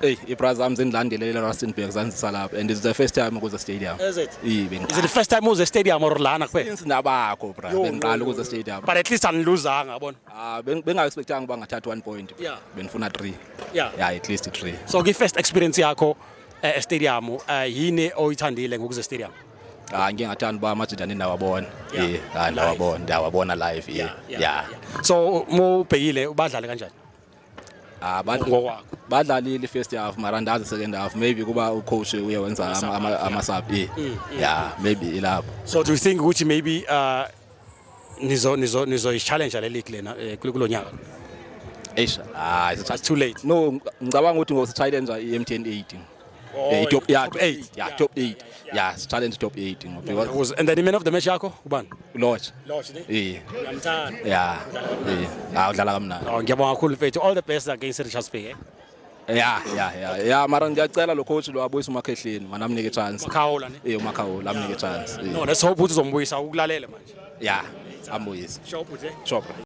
Hey, ibraza am zindilandelela Rustenburg zanzisa lapha and it's the first time ukuze stadium. Is it? Yi Is it bengiqala. the first time uze stadium or lana kuphela? Since nabakho bra, Yo, bengiqala yo, ukuze yo. stadium. But at least aniluzanga yabona. Ah, beng- benga expectanga uba ngathatha 1 point. Yeah. Benifuna 3. Yeah. Yeah, at least 3. So ki first experience yakho eh, e stadium eh, yini oyithandile ngokuze stadium? Ah, ngike ngathanda uba amajita ninawabona. Yeah. Yeah, ah, ndawabona, ndawabona live. Yeah. Yeah. So mubhekile ubadlale kanjani? Ah, bad- ngokwakho badlalile first half mara ndazi second half maybe kuba ucoach uye wenza ama- ama- ama-sub eh. ya maybe ilapho so do you think ukuthi maybe uh, nizo nizo nizoyishallenge le league lena eh, kulo kulo nyaka eish hayi it's too late no ngicabanga ukuthi ngosithayilenza i-mtn 18 Oh, eh, top yeah, top 8 yeah, top 8 yeah, challenge top 8 ngoba because and then man of the match yakho ubani lodge lodge ne eh uyamthanda yeah eh ah udlala kamnandi oh ngiyabonga kakhulu mfethu all the best against Richards Bay eh? ya ya ya ya mara ngiyacela lo coach lo abuyise umakhehleni mana amnike chance umakhawula ne eh umakhawula amnike chance eh. no let's hope ukuthi uzombuyisa ukulalele manje ya ambuyise shop uthi shop